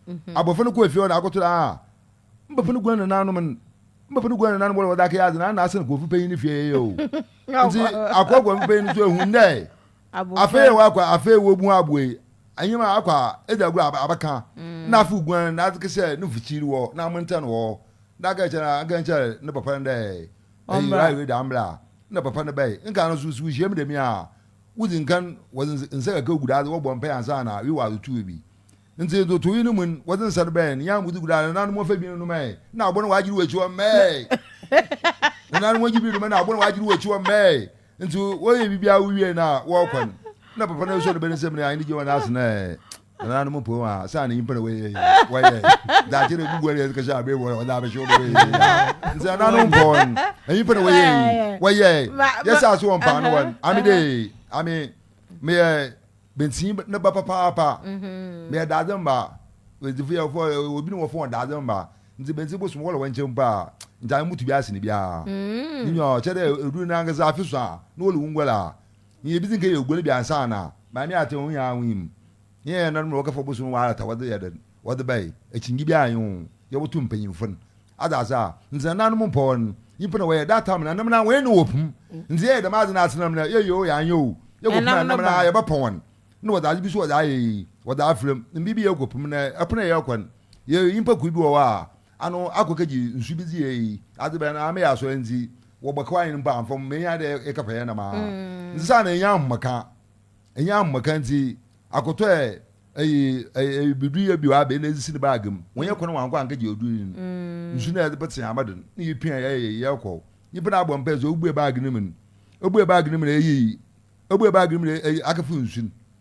mhm. abɔfra no kɔ efie wɔn akoto na aa mbɛpɛ no gua ne nanom no mbɛpɛ no gua ne nanom wɔn wɔde akɛyɛ adze na ana asɛn kɔn fipɛ yi ne fie yɛ o nti akɔ kɔn fipɛ yi no so ehun dɛ afei yɛ wɔ akɔ afei wɔ bu aboe anyim a akɔ a edze agorɔ abɛka mm. na afei guan na adze kɛsɛ ne fukyiri wɔ na amantɛn wɔ na akɛkyɛ na akɛkyɛ ne papa no dɛ. Ɔmbra. Eyi da mbra a nna papa no bɛyɛ. Nkan no so, sɛ wohyiam dɛm yi a, wodzi nkan wɔdze nsa kakra gu do adze wɔbɔ mpaa ansaana wewa adze to ewi. Ntsi ntotoe no mu no, wɔdze nsa no bɛyɛ no, nyɛn a modze gu do a, nna no mɔfa bi no nom ɛ, nna abo no ɔagye do wɔ ekyir hɔ mɛɛɛ. Nna no wɔgye bi nom ɛ, nna abo no ɔagye do wɔ ekyir hɔ mɛɛɛ. Ntsi wɔyɛ biribiara wowie no a, wɔkɔ no, nna papa no esuon bɛ ne nsamu na anye no gyina hɔ na ase no ɛ. nananom mpɔn a saa na nyimpa na wɔyɛ wɔyɛ daakye na ebubu ɛna ɛkɛsɛ abɛn wɔn ɔdɛ abɛhyɛ wɔn bɛyɛ nti nananom mpɔn nyimpa na wɔyɛ wɔyɛ yɛ sɛ aso wɔn paano wɔn ami de ami meyɛ bensin ne ba papaapa meyɛ daadze mba wedzifo yɛ fɔ obi ne wɔ fɔn daadze mba nti bensin bo sum wɔlɔ wɔn nkyɛn mpo a nti ami mutu bi ase ne biara ne nyɛ ɔkyɛ dɛ edu nankasa afi so a ne wɔlɔ wɔn ngɔla. Nyi yebedzi nka yɛ oguan bi ansaana Maame Ate ho nyinara ho nyim. Nye hɛn nananom na wɔkɛfa ɔbosoom no walɛt a wɔdze yɛ dɛn? Wɔdze bɛyɛ. Ekyingye biara nnyi ho. Yɛboto mpanyimfo no adze ase a, ndze nananom mpɔw no, nyimpa na wɔyɛ. That time nananom na hɔn na wɔ pum. Ndze yɛyɛ dɛm adze no ase nam no, yɛyɛ o yɛannyɛ o, yɛkɔ pum a nam no ara yɛbɛpɔ hɔn. Nna wɔdze adze bi so wɔdze ayɛ yi, wɔdze afora mu. Mber bi yɛkɔ pum no, pon a yɛkɔ no, yɛyɛ nyimpa kuw bi wɔ hɔ a, Ano akokagye nsu bi dze eyi adze bɛn ara meyɛ asɔr ntsi wɔbɔ kaw ahen mpo amfom menya dɛ eka fɛyɛ nam a ntsi saa na enya ahomka enya ahomka ntsi akotɔ ɛ eyi eyi bidu yɛ bio abɛ na edze si ne baage mu wɔnyɛ kwan wankɔ ankɛgye odu yin nsu na edze petsee ama do ne yɛ pia yɛ yɛ yɛ kɔ nyimpa na abɔ mpaa dze obue baage no mu no obue baage no mu no eyi obue baage no mu no eyi akɛfo nsu no.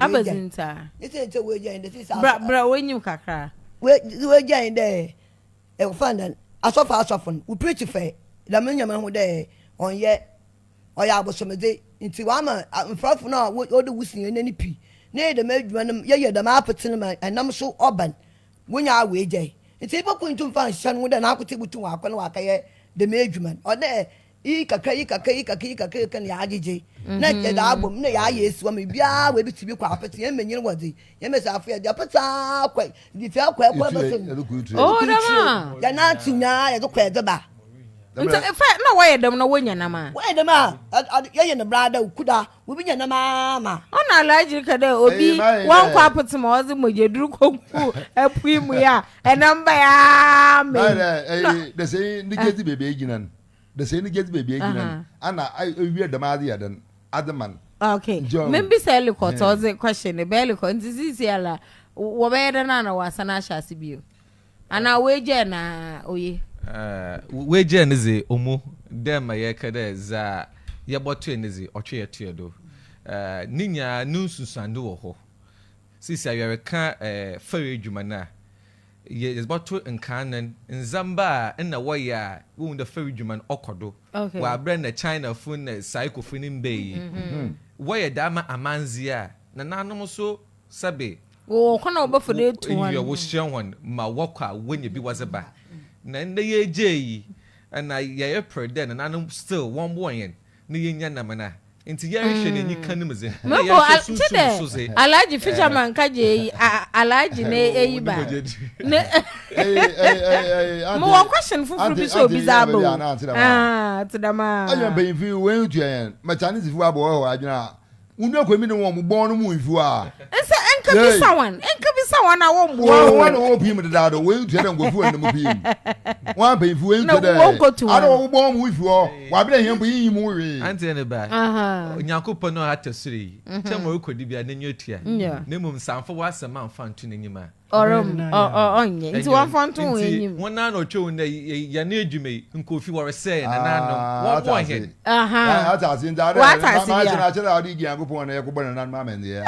abɛdze ntsi a. Ne sɛ nkyɛ woegya yɛn dɛ sisi asɔ. Bra bra w'enyim kakra. Woegya yɛn dɛ wɔfa no dɛn asɔfo asɔfo no wo preach fɛɛ dɛm no nyame ho dɛ ɔnnyɛ ɔyɛ abosomdze ntsi wɔama mfrafo no a wɔdɔ wo sen hɛn no pi na yɛyɛ dɛm edwuma no yɛyɛ dɛm apetse no ma nam so ɔba no wonya a woegyae ntsi ebɛkɔ nntum mfa nnhyɛ no ho dɛ n'akotsee botum ɔakɔ na ɔakɛyɛ dɛm edwuma no ɔwɔ dɛ Iyi kakra, yi kakra, yi kakra, yi kakra, yi kakra na yɛagyegye na yɛdze abɔ mu na yɛayɛ esiwa ma biara wɔ ebitsi bi kɔ apetse hɛn mbanyin wɔ dze hɛn mbasiafo yɛ dze apetse aa kɔ dze fi akɔ ɛkɔ ɛbɛ so no oh dɛm a yɛnantsew nyinaa yɛdze kɔ yɛdze ba. Nta fɛ na wɔyɛ dɛm na wɔnya nam a. Wɔyɛ dɛm a yɛyɛ no bra da okuda obi nya nam aa ma. Ɔna alhaji ka dɛ obi wɔnkɔ apetse ma ɔdze mogyadur kɔ gu apui mu yɛ a ɛnam ba yɛ aa ma yi. Dɛsɛnyi ne gyedzi beebi egyina no. de sɛ ɛni gyedzi baabi egyina no ana ewie dɛm adze yɛ dɛn adze ma no. Okay, mebisa Ellicott ɔdze question no ba Ellicott ntsi sisiala wɔbɛyɛ dɛn ana wɔasan ahyɛ ase bio anaa woegyaa na oye. Ɛɛ woegyaa ne dze omo dɛ ma yɛkɛ dɛ dza yɛbɔtoɛ ne dze ɔtwe yɛtoɛ do ɛɛ ne nyinaa no nsunsuando wɔ hɔ sisi a yɛrekã ɛɛ fɛr edwuma no a. Yɛ yɛdze bɔto nkan no ndzɛmba a nna wɔyɛ a wohu dɛ fɛr edwuma no ɔkɔ do wɔ aber a nna Chinafo na Saikofo no mmbae yi. Wɔyɛ dɛm ma amandze a nananom so sɛbe Wɔwɔ kwan a wɔbɛfa do etu hɔn. Nyia wohyia hɔn ma wɔkɔ a wonya bi wɔdze ba. Na ndɛ yɛregyaa yi, na yɛreper dɛ nananom still wɔmboa hɛn na yenya nam no a, ntsi yɛhwehwɛ n'enyi kan no mu dze, nna yɛhwɛ sunsum no so dze. Alhaji fisherman ka gye eyi a alhaji na eyi ba ne mo wɔ question foforo bi sɛ obi dza aba o ah tse dɛm aa. Adwen panyinfo yi won tua yɛn ma Chinese fo abɔ hɔ adwen a Wunua kɔ mi ne wɔn mo bɔn no mu nsu a. Nsa nka bi sa wɔn nka bi sa wɔn a wɔn mu. Wɔn wɔn na wɔn pii mu deda do wɔn ntua dɛ nkɔfu wɔn na mu pii mu wɔn apɛ nfu wɔn ntua dɛ. Na wɔn kotu wɔn. Ada wɔn bɔn mu nsu hɔ wɔn abena hiɛ mpo yi yi mu wi. Anti ne ba onyako pɔ no ɔha tɔ soro yi kyɛ ma ɔkɔ di bi a n'enyi otua na mmom nsanfo wɔ asɛm anfa ntu n'enyim a. Ɔrem ɔ ɔ ɔnyɛ nti wɔmfa nto wɔn anim. Nti wɔn nan na ɔtwa wɔn nɛ yɛ ne adwuma yi nkofi wɔresɛ yɛ nananom wɔn bɔ hɛn. Wate ase nti adɛ wate ase bi a. Akyerɛ akyerɛ adi gyan ko pɔn na yɛ ko bɔ nananom amɛndeɛ.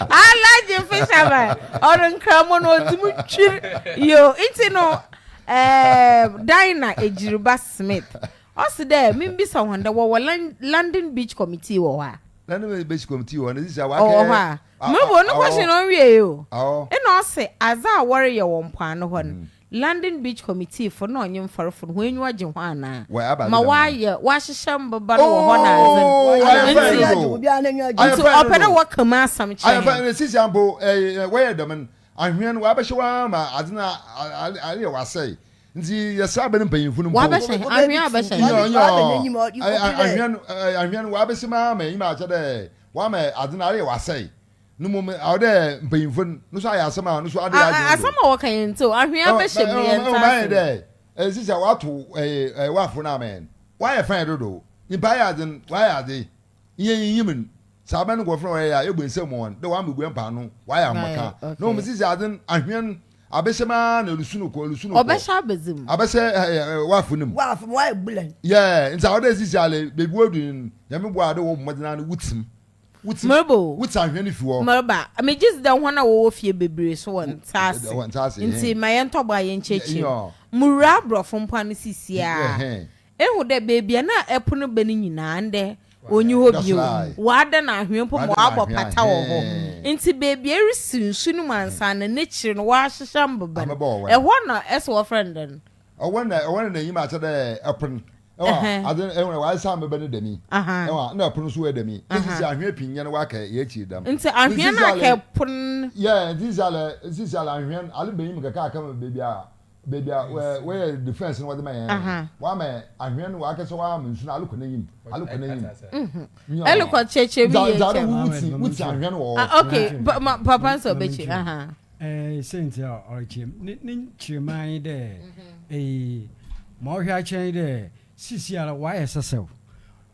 Alaji fisherman ɔno nkramo no ɔdi mu twir yo nti no ɛɛ Dina Ejiriba Smith ɔsi dɛ mimbisa wɔn dɛ wɔwɔ London Beach Committee wɔ hɔ a. na ne bɛ si kɔmiti hɔ ne sisi a wakɛ. ɔwɔ hɔ a mmiri bɔ no kɔsi na ɔnwie yi o ɛna ɔsi adze a wɔreyɛ wɔ mpoano hɔ no London Beach Committee fo na ɔnye mfarfo no hɔn enyiwa gye ho anaa ma wɔayɛ wɔahyehyɛ mbobaa no wɔ hɔ na adze no nti ɔpɛ dɛ wɔka mu asɛm kyerɛ hɛn. Ahwea no wɔabɛhyɛ hɔ ara ma adze no ayɛ hɔ asɛe. Ntsi yɛsera aber no mpanyimfo no mpo. Wɔabɛhyɛ hɛn, ahwea abɛhyɛ hɛn. Nyoo, nyoo, ahwea no wɔabɛhyɛ mu ara ma enyim aakyɛ dɛ wɔama adze no ayɛ hɔ asɛe. No mbom aɔwɔ dɛ mpanyimfo no so ayɛ asɛm a no so ada hɛn adwen do. Asɛm a wɔka yɛn ntsew, ahwea abɛhyɛ mu, yɛnntse ase. Mayɛ dɛ sisi a wɔatow wafo no ama hɛn. Wɔayɛ fine dodow. Nyimpa ayɛ adze no, wɔayɛ adze. na yenyiyim no, sɛ abɛn nkorɔfo na wɔyɛ yɛ a, yebue nsamu ma hɔn dɛ wɔambobua mpaano, wɔayɛ ambɔkã, na hom dzidzi adze no, ahɛn, abɛhyɛ mu ara na erusu no kɔ, erusu no kɔ. Ɔbɛhyɛ abɛdze mu. Abɛhyɛ w'afe no mu. W'afe mu, w'ayɛ bulan. Yeah, ntsi aɔwɔ dɛ edze si ale, beebi woedu no, Nyame boa a ade wɔ wo mbɔdzen ara no, wo tsim. Wo tsim, wo tse ahɛn no fi hɔ. Mereba. Megye dzi dɛ hɔn a wɔwɔ fie beberee so wɔ ntsease, ntsi ma yɛntɔ bo a yɛnkyerɛkyerɛ mu. Muwura aborɔfo mpoano sesei ara, Ehu dɛ beebi a nna ɛpo no bɛn nyinaa ndɛ onnyi hɔ bio, wɔada no anhwea mpo ma wɔabɔ pata wɔ hɔ. Ntsi beebi a erisi nsu no mu ansaana n'ekyir no wɔahyehyɛ mboban. Hɔ na ɔsɛ wɔfrɛ no dɛn? Ɔwɛn na ɔwɛn na n'enyim akyɛ dɛ pon. Ewa adze ehu dɛ wɔasan mboban no dɛm yi. Ewa nna pon so yɛ dɛm yi. Ntsi sɛ anhwea pii nyɛ no wɔaka yɛ ekyir dɛm. Ntsi anhwea no aka pon. Yeah, ntsi nsɛlɛ ntsi nsɛlɛ anhwea no ale bɛn yi mu kɛkɛ aka beebi a Baby a wei yɛ defense no wɔde ma yɛn. Wɔama yɛn ahwɛn no wɔakɛ sɛ wɔama nsu no alokɔ n'enyim alokɔ n'enyim. Ɛlokɔ kyerɛkyerɛ bi yɛ kyɛ. Wuti wuti ahwɛn wɔ hɔ. Okay papa nso ɔbɛkyerɛ. Ɛɛ sɛnti a ɔkyerɛ mu ne ne kyerɛmaa yi dɛ ee ma ɔhwɛ akyerɛ yi dɛ sisi ara wɔayɛ sɛsɛw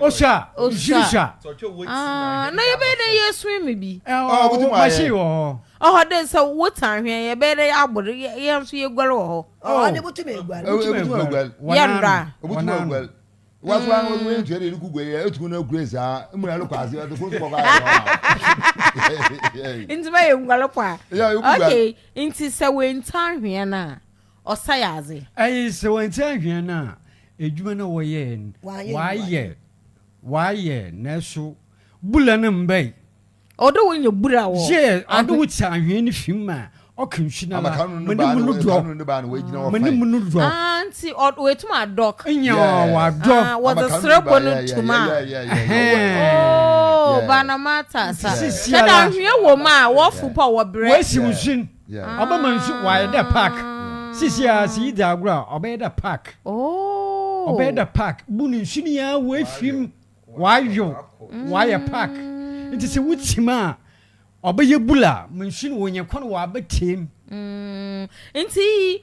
Osha. Osha. Ah, na yɛbɛyɛ dɛ yɛ swim bi. Ɛwɔ machine wɔ hɔ. Ɔhɔ dɛ sɛ wo ta ahwea yɛbɛyɛ dɛ yɛ abɔ dɛ yɛn nso yɛ guare wɔ hɔ. Ɔhɔ ade botum eguare. Botum eguare. Yɛn da. Botum eguare. Waso an wɔn wɔn ntua de eluku guare yɛ etumu na ekure saa emu na ɛlokɔ ase ɛde kuro kɔkɔ ayɛ hɔ. Ntoma yɛ nguare pɔ a. Okay, nti sɛ wɔn nta ahwea na ɔsɛɛ adze. Ae, sɛ wɔanntsi annhwɛ no a, edwuma no a wɔyɛe no, wɔayɛ, wɔayɛ, naaso bura no mmbae. Ɔdɔ wo nya bura wɔ. Yɛ, ɔdɔ wo tse anhwea no fi mu a ɔka nsu no ara, ma no mu no dɔ, ma no mu no dɔ. Ah, ntsi ɔ, oetum adɔk. Nya ɔadɔ. Ah, wɔdze serɛbɔ no tum a. Ɛhɛɛn. Oh, Barnamata, sa, sɛ dɛ anhwea wɔ mu a, wɔfow po a wɔberɛ. Wɔasiw nsu no. Ɔbɛ ma nsu w'ayɛ dɛ park sisi a si yi dza agorɔ a ɔbɛ yɛ dɛ park ɔbɛ yɛ dɛ park bu no nsu no yi ara w'efi mu w'ayow w'ayɛ park ntsi sɛ wo tsim a ɔbɛ yɛ bula ma nsu no w'onye kwan w'abɛ tee mu. Ntsi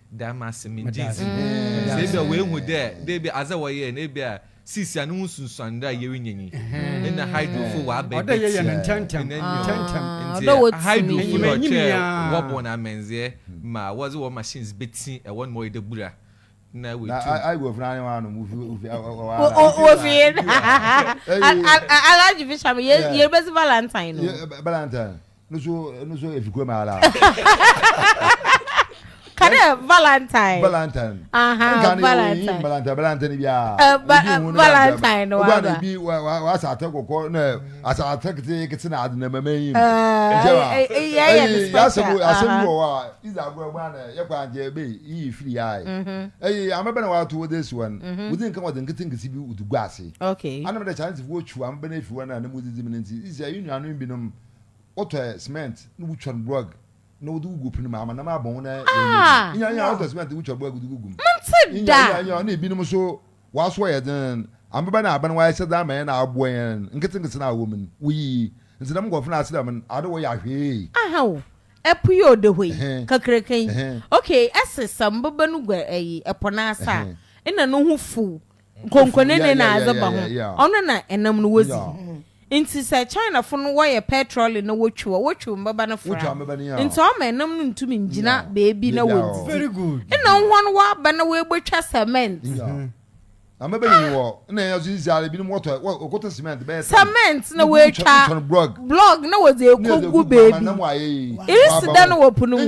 Da me ase, megye dzi. Sɛ ebi a oehu dɛ dɛ ebi adze a wɔyɛe no ebi a seesei a no ho sunsuando a yerinya nyi. Nna Hydrofo ɔaba ebetsia hɛn enyim. Ntsi Hydrofo na ɔkyerɛɛ wɔbɔ hɔn amandzɛɛ ma wɔdze hɔn machines betsi wɔ no ma ɔyɛ dɛ bura na woetum. Alhaji Bisham, yɛrebɛdzi valentine o. nusu nusu efi kurom ara. kane valentine. valentine. nka ne yɛ yi valentine valentine bi a. valentine no wa ba. o ba na ebi wa wa wa asaate kɔkɔ na asaate kete kete na adi na mɛmɛ yi. ɛɛ yɛ yɛ ni special. ɛyi asɛm bi wɔ hɔ a iza agorɔ ɛgbɔn anɛ yɛ kɔ anjɛ ebe yi firi ya yi. ɛyi amɛbɛn wa to wɔde esi wɔn. wòdi nkan wɔde nkete nkesi bi wòdi gu ase. anam dɛ chinese fo wɔ twu amɛbɛn efi wɔn a ne mu didi mu ne nti iza yi nuanu binom. Wotɔ ɛ cement na wotwa no brɔg na wode wogu pene mu ama nam abɔn wo na yɛyɛ bi. Ah! Inya inya wotɔ cement wotwa brɔg wode wogu mu. Mente Inya da! inya inya na ebinom nso w'aso yɛ den. Ameba na aben w'ayɛ sɛ dza ama yɛn aboa yɛn nketsenketse na awɔ mu no woyi. Ntsi dɛm nkorɔfo no ase dɛm no ade wɔyɛ ahwee. Aha o, ɛpo yi ɔda hɔ yi, Ɛhɛn. kakraka yi, Ɛhɛn. okay, ɛse sɛ mbeba no gua ɛyi, ɛpo no ase a, Ɛhɛn. nna no ho fuw, nkonkonene na adze ba ho, ɔno na nam no wodzi. Ntsi sɛ Chinafo no wɔyɛ pɛtrɔle na wotwew a, wotwew mbɛba no fora, ntsi ɔma nam no nntum nngyina beebi na wonndzidzi. Nna hɔn wɔaba na woebotwa cement. Cement na woetwa blɔg na wɔdze ekogu beebi. Irisi dɛn wɔ po no mu?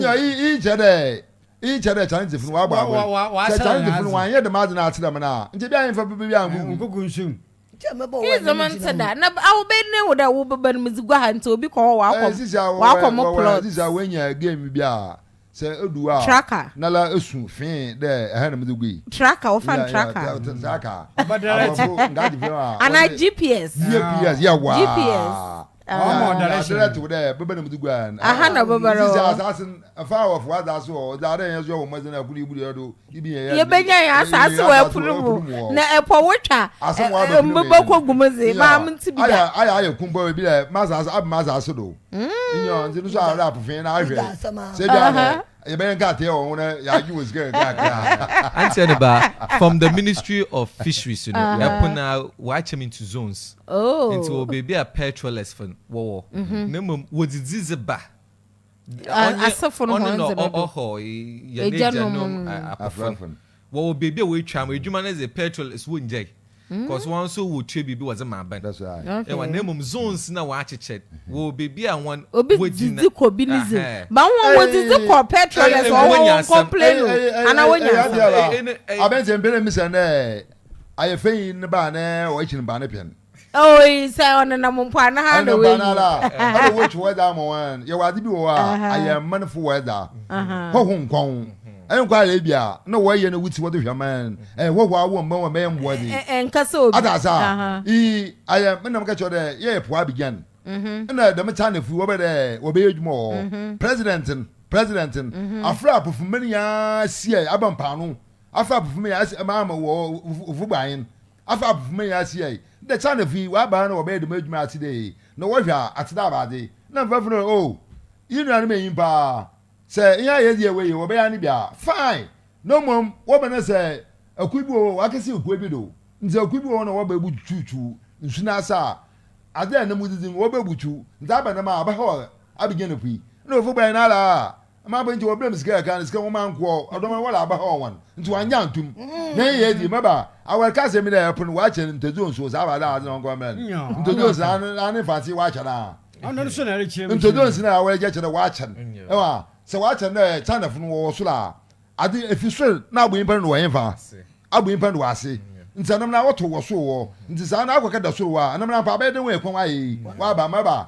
Iyi kyerɛ dɛ Chinesefo no wɔabɔ abɛn. Sɛ Chinesefo no wɔannyɛ dɛm adze no akyerɛ me no a, nkyɛ bi a nyimfa papa bi annkogu nsu mu. Iyi dze menntse da. Na aoben na ehu dɛ wo bba no medze gu ha ntsi obi kɔ hɔ ɔakɔ mo plot. Sisi a woenya game bi a sɛ odu hɔ a, nala su fee dɛ ha na medze gui. Tracker, wɔfrɛ no tracker. Tracker. Aborɔfo nkaa dze frɛ hɔ a. Anaa GPS. GPS, yɛwaa. GPS. ɔma ɔda ne hyɛn dɛ tew dɛ bɛbɛ na mudzi gua no aha na bɛbɛ no sisi asaase no fa wɔ fo asaase wɔ ɔdze adɛ yɛn so yɛ wɔ mmɔdze na ɛkoro ibu yɛ do ibi yɛ yɛ yɛbɛnya yɛ asaase wɔ ɛpo no mu na ɛpɔ wo twa mbɛbɛ kɔ gu mu dze maa mo nti bi da ayɛ ayɛ kum bɔ ebi dɛ ma asaase abɛ ma asaase do nyɛ ɔdze no so ara apofee na ahwɛ sɛ bi ara Yɛbɛyɛ nkate wɔ ho na yɛagye wɔn sika kakra. Anteɛ no ba, from the ministry of fisheries no, ɛpo no ara wɔakyɛ mu into zones. Nti wɔwɔ baabi a petrolers fo wɔwɔ, na mmom wɔdzidzi dze ba. Ɔnye ɔno na ɔhɔ yɛn agyanom afofo no. Wɔwɔ beebi a woetwa mu edwuma no dze petrol so wonngyae, cos hɔn so wotua biribi wɔdze ma aban. Ewa, na mbom zones na wɔakyekyɛ, wɔwɔ beebi a hɔn Obi wodzina. dzidzi kɔ bi ne dze. Ahɛn. But hɔn wodzidzi kɔ petrol Ei, ne so, ɔhɔ wonya asɛm. wɔnncomplain o, Ei, ei, ana ei, wonya ei, asɛm? adeɛ Ei, ba. ei, ne, ei. Abɛnti mpɛn na misa nɛ ayɛ fɛn yi ne ba nɛ ɔyɛ kyin ba ne pɛn. Oi, sɛ ɔnenam mpo a na ha na wayi. Ɛna wɔtwe wɛda ama wɔn. Yɛwɔ ade bi wɔ hɔ a ayɛ mmanfo wɛda. Hɔho nkɔn. Ɛnkɔ ayɛ bi a na wɔyɛ na wuti wɔde hwɛ man. Ɛyɛ hɔho a wɔn bɛn wɔn bɛyɛ mmoa de. Ɛnka sɛ obi. Ada sa. I ayɛ menam kɛkyɛ dɛ yɛyɛ po abigyan. Ɛna dɛm China fo wɔbɛ dɛ wɔbɛyɛ adwuma wɔ hɔ. President no, president no, afrɛ apofo mani a siɛ aba mpaano. Afrɛ apofo mani a ɛma ama wɔ ofo baen. Afa abofomma nyinaa si ai, dɛ Chinafo yi, wɔaban na wɔbɛyɛ dɛm edwuma yi atse dɛ ei, na wɔhwɛ a, atse dɛ abadze. Nna mfɛfo no, oh, iyi nuanom enyi paa. Sɛ iyi a yedzi yɛ wei yi, wɔbɛyɛ ano bi a, fine, na mbom wɔba na sɛ akuw bi wɔ hɔ a, wɔakɛsɛw kuw bi do, ntsi akuw bi wɔ hɔ na wɔba ebututuw nsu no ase a, adze a nna mudzidzi no, wɔba ebutuw, ntsi aba dɛm a, ɔbɛhaw abegya na pui. Nna wɔfa bua hɛn ara a, Ama afei nti wɔbrɛ me sika kakra no, sika nwoma nkoɔ, ɔdɔm a wɔla aba hɔ wɔn, nti wɔanyɛ antom. Na ɛyɛ adi, mɛba, awɛre ka asɛm mi dɛ ɛpono, wɔakyɛ no ntɛdzuo nsuo, saa ba dɛ adze na ɔnkɔ mmrɛ no, ntɛdzuo nsi na ano, n'ano nfa ase, wɔakyɛ no a. Ntɛdzuo nsi na awɛre gya kyɛ dɛ wɔakyɛ no, ɛwɔ a, sɛ wɔakyɛ no dɛ Chinafo no wɔwɔ sor a, adze efi sor na abɔ nyimpa no do wɔ henfa? Abɔ nyimpa no do wɔ ase, nti anamuna awɔtow wɔ sor hɔ, nti saa no akɔ kɛda sor hɔ a, anamuna mpo abɛyɛ dɛ hɔn ekɔn ayɛ yi, wɔaba, mɛba,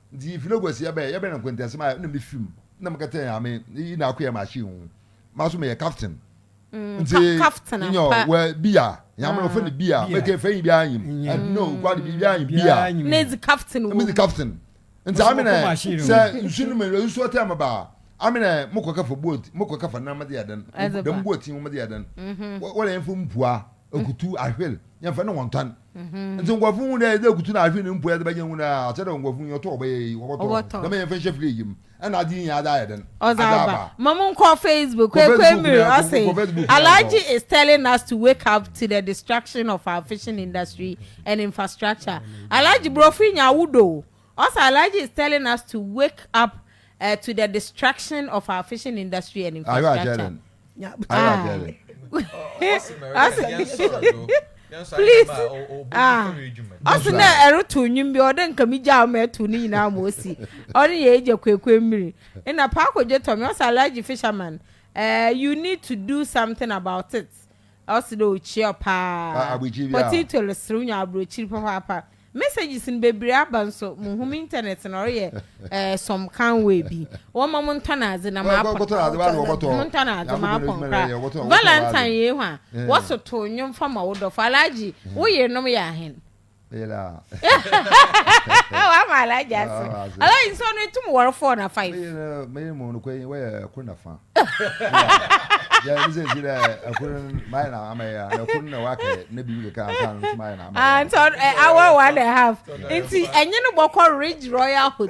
Ntsi yefii no eguasi yɛbɛn, yɛbɛn Nkwentia Sima a nna mifi mu, nna mekɛtsɛn a me iyi na akoye machine ho, maso meyɛ captain. Ntsi nyew, wɔ beer, nyame na ɔfrɛ no beer, mekɛ fɛ nyi biara nyim, no, kwade biribiara nyim, beer, na edzi captain wɔ mu, medzi captain, ntsi amena sɛ nsu no mu, nsu ɔtɛn me ba a, amena mokɔ kɛfa boat, mokɔ kɛfa nam dze yɛ dɛn, dɛm boat yi ho medze yɛ dɛn, wɔreyɛn fom pua. ekutu ahwel yɛn fɛ ne wɔn tan mhm. nti nkɔfo hu dɛ ɛdɛ ekutu na ahwel ne mpo ɛdɛ bɛgye hu dɛ akyɛ dɛ nkɔfo hu yɛtɔ ɔbɛyɛ yi wɔbɔtɔ dɛm yɛn fɛ nhyɛ fili yim ɛna adi yɛn ada ayɛ dɛn ada aba mamu nkɔ facebook kwekwe miri ɔsɛ alhaji is telling us to wake up to the destruction of our fishing industry and infrastructure alhaji burofo nya awudo. Us Alhaji is telling us to wake up eh, to the destruction of our fishing industry and infrastructure. Please. Ah. Us na ɛro to nwim bi ɔde nka mi gya ɔmo ɛto ne nyinaa ɔmo osi. Ɔne yɛ egya kwekwe mmiri. Ɛna paako gye tɔ mi us Alhaji fisherman. Uh, you need to do something about it. Ɔse dɛ okyia wo paa. Ah abrekyir bi a. Potato no serew nya abrokyir papaapa. Messages no bebree aba nso muhu me internet no ɔreyɛ eh some kind way bi. Wɔma mo ntɔ nadze na ma pon. Kɔtɔ nadze bɛyɛ na wɔbɔtɔ. Mo ntɔ nadze ma pon kra. Valentine yei hwan? Wɔso too nwom fa ma wo dɔfo. Alhaji wo yernom yɛ ahen? wama alaja ase alaji nso no etum wɔre four na five. meyɛ mu no kɔyi wɔyɛ ɛkoro na fa yɛ ne sɛ si dɛ ɛkoro mayɛ na ama yɛ na ɛkoro na wakɛ na biribi keka ansa no nso mayɛ na ama yɛ. nti awɔ one and a half nti ɛnye no bɔkɔ ridge royal hotel.